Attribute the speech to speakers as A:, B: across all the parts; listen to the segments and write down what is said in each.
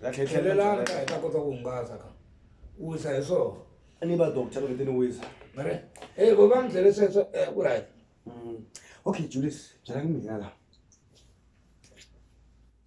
A: tlhelelanga
B: hi ta kota ku hungasa
A: ka wisa hi swona a ni va doctor loko
B: ti ni wisa mare e
A: vo va ni byele sweswo eh, ku right mm. okay
B: julius byelani mina la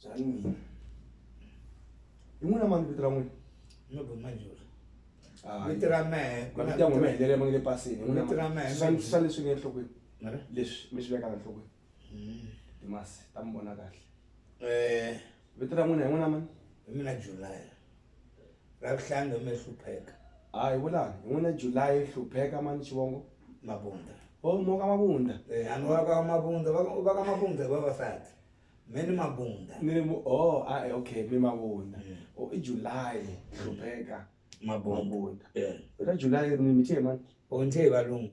B: byelani mina hi n'wina mani vito ra n'wina no bo
A: majula
B: vito ra mehe mavito ya n'wina helela ma nge le pasini hi n'winaswa
A: leswi nge
B: enhlokweni leswi mi swi vekaka enhlokweni mm. timasi ta mi vona kahle um vito ra n'wina hi n'wina mani hi mina julaya
A: ra vuhlangi mi hlupheka a hi vulani
B: hi n'wina julayi hlupheka mani xivongo mabunda
A: o oh, moka
B: mabunda eh, ani va ka
A: mabunda va ka mabunda hi vavasati mi ni mabunda ni o oh, a ah, eh,
B: okay mi mabunda mm. o oh, i julayi hlupheka mabunda eh. ra julayi ri ni mi tiye mani o ni tiye valungu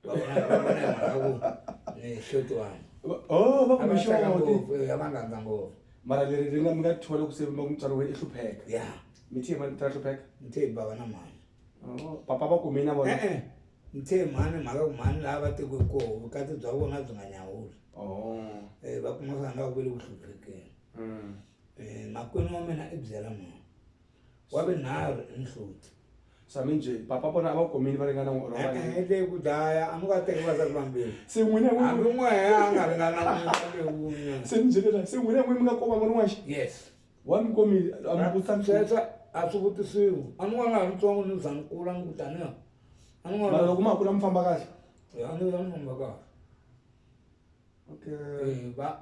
A: va vona va vona hi mhaka ku ni hloti wani Va- oh va a va
B: tsaka kumixoti ngopfu eh, a va nga ndza ngopfu
A: mara leri ri nga mi
B: nga thola ku se va ku mutswari wena i hlupheka ya mi thiye
A: mani ta
B: hlupheka ni the bava na mhani
A: Oh, papa va
B: kume na vona e-e ni the
A: mhani mhaka ku mhani laha va tekiwe koho vukati bya vona byi nga nyawuli Oh, um va kuma swa nga ku ve le ku hluphekeni mm. um makwenu wa mina i byela mhani wa vunharhu i nhloti sami njhe
B: papa vona a va khomini va ringana n'wi olova leyi. Eh, leyi ku dlaya
A: a mi nga teki va za ku vambirhi se n'wina n'wi- hambi
B: n'we a
A: nga ringana lewunye se mi byelela se
B: n'wina n'wi mi nga koma n'wana waxe yes wa mi
A: komile
B: a mi vutisa nchumu. sweswo a swi
A: vutisiwi a ni n'wana ha mutsongo ni za ni kula ni ku taniya a ni mara n'wana loko
B: ma kula mi famba kahle ya ni ya ni famba
A: kahle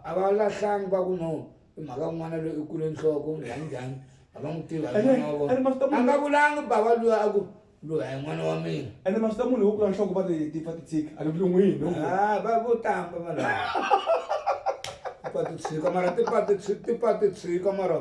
B: a va lahlangi
A: va ku no i mhaka n'wana loyi i kule nhloko njhani njhani a va n'wi tivi a nga vulangi bava luya a ku loyi a hi n'wana wa mina ene mavito ya munhu wo kula
B: nhloko va ti ti pfa ti tshika a ni vulun'wini va vo tamba
A: vanhu va ti tshika mara ti pfa ti ti pfa ti tshika mara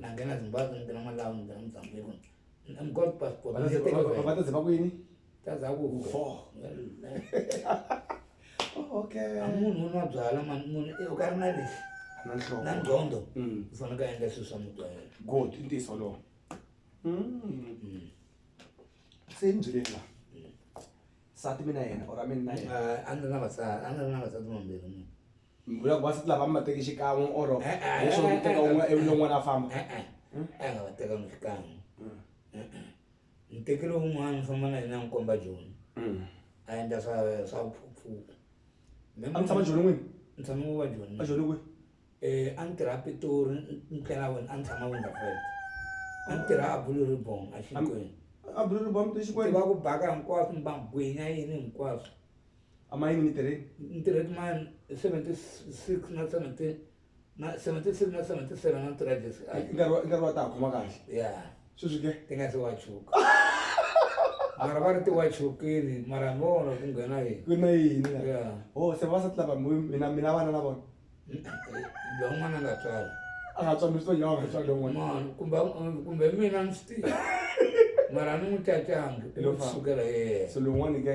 A: nangena zimbabwe ngena malawi ngena mozambique i'm god passport vataze vakwini
B: tazaku okay munhu unwa
A: byala mani munhu eh, u ka ri na lexi na nqondo
B: u mm.
A: fanele ka endla swilo swa mutwayela good i ntiyiso lowo mm.
B: mm. se ni byeleni la sati mina yena or a mina na yena ah, a ni ri na vasati a ni
A: ri na vasati mambirhi munhu mbula ku vasati
B: lava mi va teke xikan'we or eh, eh, leswo mi teka un'we eh, evile un'wana a famba a nga va
A: tekanga xikan'we ni mm. tekile un'wana ni famba na yena ni komba joni mm. a endla swa swa vuphuphuku a mi
B: tshama joni n'wini ni tshama ku va joni
A: a joni kwihi
B: um a ni
A: tirha pitori ni tlela wena a ni tshama wonderfelt a ni tirha abulu ribong a xinkweni abulu
B: ribong
A: ti xikweniva ku
B: baka
A: hinkwaswo ni bangwinya yini hinkwaswo a ma
B: yini mi tirhi ni tirhe kun'wana hi
A: seventy six na seventy na seventy six na seventy seven na ni tirha jesi I nkarhi wa- i nkarhi wa ta ha
B: khoma kahle ya sweswi ke
A: ti nga se
B: wachuka
A: mara va ri ti wachukile mara ni vona ku nghena yini ku na yini la?
B: ya o se
A: vavasati lava
B: mi- mina mina vana na vona
A: lowun'wana a nga tswala a nga tswani swi
B: nga tswani lowun'wana Mano,
A: kumbe kumbe mina ni swi tiva mara ni n'wi cacangi Hi lo famba. kusukela yena so lowun'wana ke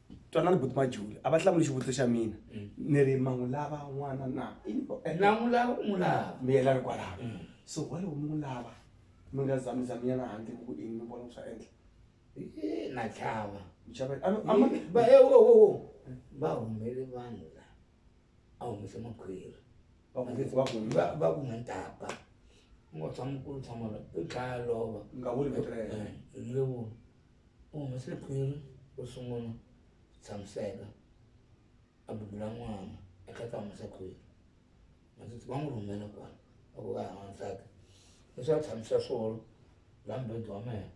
A: twanani buti
B: majuli a va hlamuli xivutiso xa mina mm. ni ri ma n'wi lava n'wana na na n'wi lava
A: u n'wi lava miyela ri kwalaho mm.
B: so waloko mi n'wi lava mi nga zamizaminyana handle ku ini mi vona ku swa endla na
A: chava va e wo wo wo va humele vanhu la a humese makhwiri va ku nge va ku va ku nge ntapa ngo tshama ku tshama la i khaya lova nga vuli ku tirhela
B: eh, nge vuli
A: U humese khwiri ro sungula ku tshamiseka, a bebula n'wana a tlhela a ta humesa khwiri. Vatsotsi va n'wi rhumela kwala va ku va ya n'wansati leswaku a tshamisa swolo laha mubedwa wa mehe,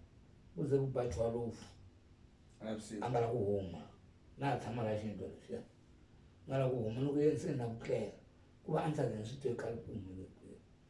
A: ku ze ku ba thwalufu a nga lavi ku huma na ha tshama laha xiyindlwana lexiya. A nga lavi ku huma loko ya ntsena ku tlela ku va a ni swi tivi khale ku humelele kwini.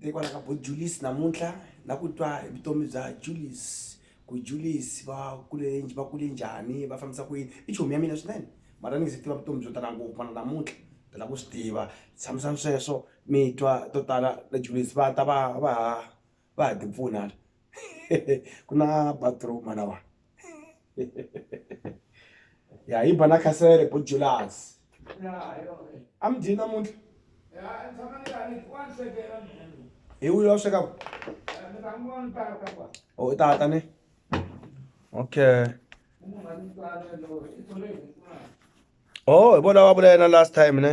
B: hikwala ka bo julies namuntlha la ku twa hi vutomi bya julies ku julies va kule va kule njhani va fambisa ku yini i chomi ya mina swinene mara ni nge se tiva vutomi byo tala ngopfu mana namuntlha ta la ku swi tiva tshamisani sweswo mi twa to tala la julies va ta va va va ha ti pfuna ku na bathroom mana wa. ya yi bana khasele bo julasi a mi dyi namuntlha
A: hi wuyo wa
B: sweka o
A: oh, tata ni
B: okay o oh, hi vona va vula yena last time ne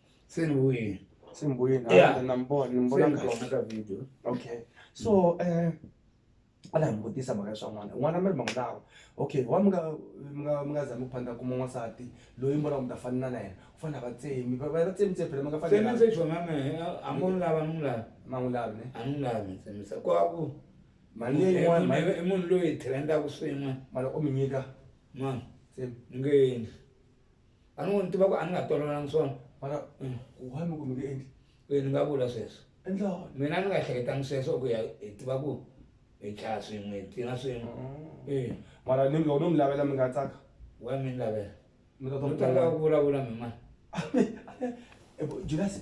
A: se ni
B: vuye se ni vuye na na mbona
A: ni mbona
B: kahle ka video
A: okay so
B: eh a la mi vutisa mhaka swa n'wana n'wana mi ri ma n'wi lava okay wa mi nga mi nga mi nga zami ku phandla kuma n'wansati loyi mi vonaka mi ta fanela na yena u fanele a va tsemi va va tsemi tsemi phela mi nga fanele se jona me a
A: mo n'wi lava ni n'wi lava ma n'wi lavi ne a ni
B: n'wi lavi tsemisa
A: ku a ku mali leyi
B: n'wana mali i munhu loyi hi trendaka
A: swin'we mali u mi nyika
B: ma se
A: ni nge
B: endli
A: a ni n'wi tiva ku a ni nga tolovelanga swona mara mm.
B: kuhani ku mi nge endli e ni nga vula sweswo
A: endlani mina ni nga
B: hleketanga
A: sweswo ku ya hi tiva ku hi dlaya swin'we hi tlina swin'we mm. e mara ni loko
B: no mi lavela mi nga tsaka wa mi ni
A: lavela mi ta
B: twa ku vulavula
A: mi mani julasi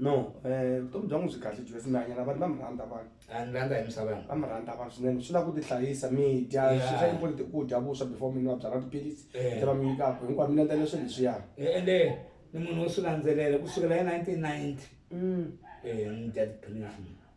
A: no eh,
B: vutomi bya n'wi byi kahle jesi mi hanyela vanhu va mi rhandza vanhu a ni rhandza hi misava
A: va mi rhandza vanhu swinene
B: swi lava ku tihlayisa mi dya swi swa important ku dya vuswa before mi nwa byala tiphilisi eh. va mi nyikaka hinkwavo mi landzela swilo leswiya eh, ende
A: ni munhu wo swi landzelela kusukela hi nineteen ninety mm. ni dya tiphilisi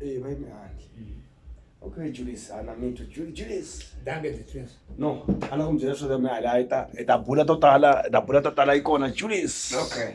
B: Eh, bayi mihandla. Okay, Julius, ana mi twa. Ju- Julius. Danke the twins.
A: No, ana ku mi byela
B: swa mina hala yi ta yi ta bula to tala, yi ta
A: bula to
B: tala yi kona Julius. Okay.